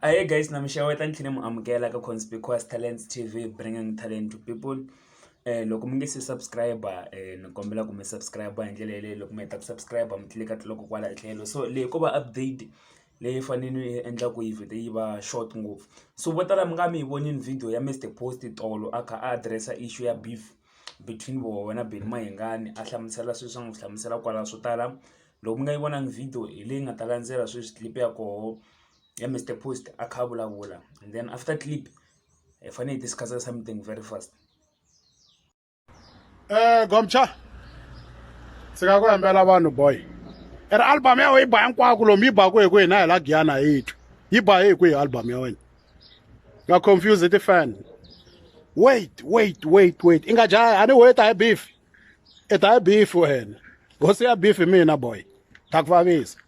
Ahee guys na mi xeweta ni tlhela ni mi amukela ka Conspicuous Talents T_V bringing talent to people loko mi nge se subscribe-a ni kombela ku mi subscribe-a hi ndlela yaleyo loko mi heta ku subscribe-a mi tlilika loko kwala tlhelo so leyi ko va update leyi fanele ni yi endla ku yi vhete yi va short ngopfu so vo tala mi nga mi yi vonile video ya Mister Post tolo a kha a address-a issue ya beef between voho na Benny Mayengani a hlamusela swilo leswi a n'wi hlamusela kwala swo tala Loko mi nga yi vonangi video hi leyi nga ta landzela sweswi clip ya koho ya Mister Post a kha a vulavula and then after clip hi fanele hi discuss-a something very fast. Eh Gomcha ndzi nga ku hembela vanhu boy i ri album ya wena yi ba hinkwako lomu yi baku hi ku hina hi la giyana hi twi yi ba hi ku hi album ya wena nga confuse ti-fan wait wait wait wait i nga jaha a ni weta hi beef i ta ya beef wena hosi ya beef mina boy ta ku vavisa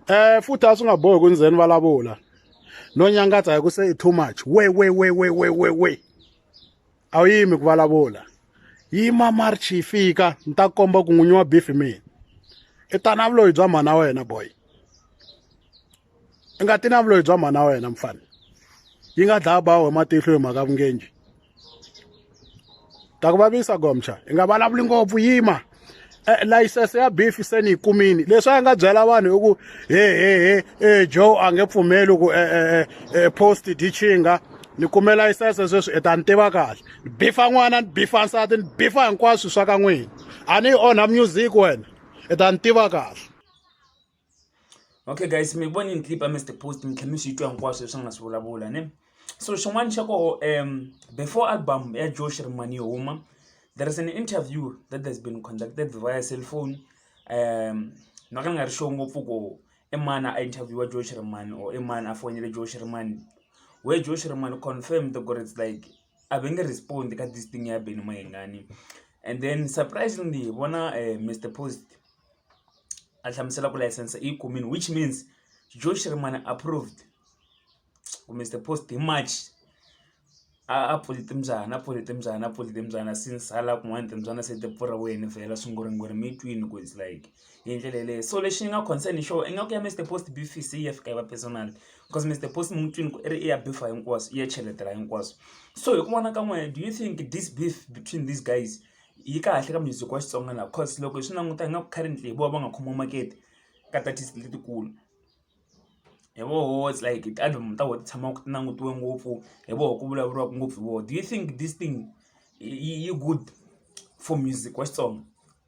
eh futhi a swi nga bohi ku ndzeni vulavula no nyangatsa hi ku se i too much we we we we we we we a wu yimi ku vulavula yima march yi fika ni ta komba ku n'winyi wa beef mina i tanavuloyi bya mhana wena boy i nga ti na vuloyi bya mhana wa wena mfana yi nga dlaya ba we matihlo hi mhaka vungenji ta ku vavisa gomcha i nga vulavuli ngopfu yima e, layisense ya beef se ni yi kumini leswi a nga byela vanhu hi ku he he he e, joe a nge pfumeli ku e, post dichinga ni kume layisense sweswi i ta ni tiva kahle ni bifa n'wana ni bifa nsati ni bifa hinkwaswo swa ka n'wina a ni yi onha music wena i ta ni tiva kahle okay guys mi voni ni clip amesite post mi tlhela mi swi twa hinkwaswo leswi nga swi vulavula ne so xin'wana xa koho um before album ya josh rimani yo huma there is an interview that has been conducted via cell phone um na ka ni nga ri sure ngopfu ko i mani a interviewa josh rimani or i mani a fonele josh rimani we josh rimani confirmed ku ri it's like a ve nge respond ka this thing ya beni mahingani and then surprisingly hi vona um eh, mr post a hlamusela ku layisense i yi kumini which means joe shirimani approved kumbe the post hi march a a pfuli timbyana a pfuli timbyana a pfuli timbyana since hala kun'wani timbyana se ti pfuriweni vhela swimburimburi mi twini ku it's like hi ndlela yeleyo so lexi ni nga concern hi xoho ingaku ya mister post bfc yi ya fika yi va personal because mister post mi n'wi twini ku i ri i ya bifa hinkwaswo i ya cheletela hinkwaswo so hi ku vona ka n'wehe do you think this beef between these guys yi kahle ka music wa Xitsonga la coz loko hi swi languta hi nga ku currently hi vona va nga khomiwa makete ka ti-artist letikulu hi voho it's like ti-album ta vona ti tshama ti langutiwe ngopfu hi voho ku vulavuriwaka ngopfu hi vona do you think this thing yi good for music wa Xitsonga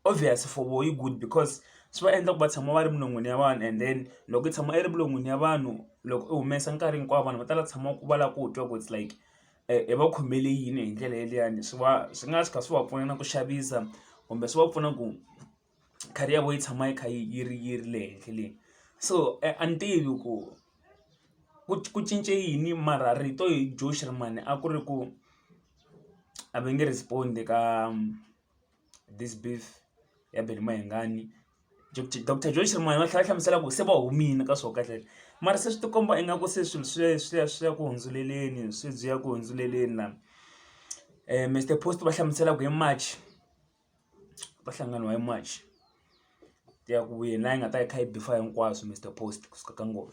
obvious for vona yi good because swi va endla ku va tshama va ri minon'wini ya vanhu and then loko yi tshama yi ri minon'wini ya vanhu loko u humesa nkarhi hinkwawo vanhu va tala ku tshama va lava ku twa ku it's like hi va khomele yini hi ndlela yaliyani swi va swi nga tshuka swi va pfuna na ku xavisa kumbe swi va pfuna ku career ya vona yi tshama yi kha yi yi ri yi ri le henhla le so a ni tivi ku ku ku cince yini mara rito hi Joe Shirimani a ku ri ku a va nge respond-i ka. this beef ya Benny Mayengani doctor Joyce ri moya va tlhela va hlamusela ku se va humile ka swo kahle mara se swi ti komba ingaku se swilo swi ya swi ya swi ya ku hundzeleleni sweswi ya ku hundzeleleni la Mister post va hlamusela ku hi March va hlanganiwa hi March ya ku yini la yi nga ta yi kha yi beef-a hinkwaswo Mister post kusuka ka ngoma.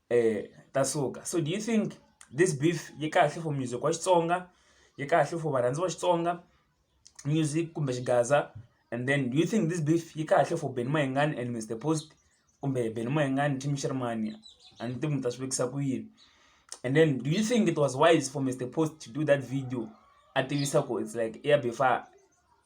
ta suka so do you think this beef yi kahle for music wa Xitsonga yi kahle for varhandzi va Xitsonga music kumbe xigaza and then do you think this beef yi kahle for Benny Mayengani and Mister Post kumbe Benny Mayengani Team Xirmani a ni tivi mi ta swi vekisa ku yini and then do you think it was wise for Mister Post to do that video a tivisa ku it's like i ya beef-a.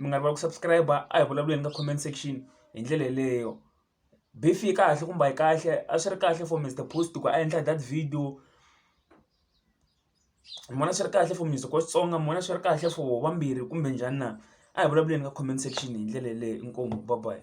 mi nga rivali ku subscribe-a a hi vulavuleni ka comment section hi ndlela yeleyo beef yi kahle kumbe a yi kahle a swi ri kahle for Mister Post ku a endla that video ni vona swi ri kahle for Mister Coast Tsonga ni vona swi ri kahle for vambirhi kumbe njhani na a hi vulavuleni ka comment section hi ndlela yeleyo inkomu bye bye.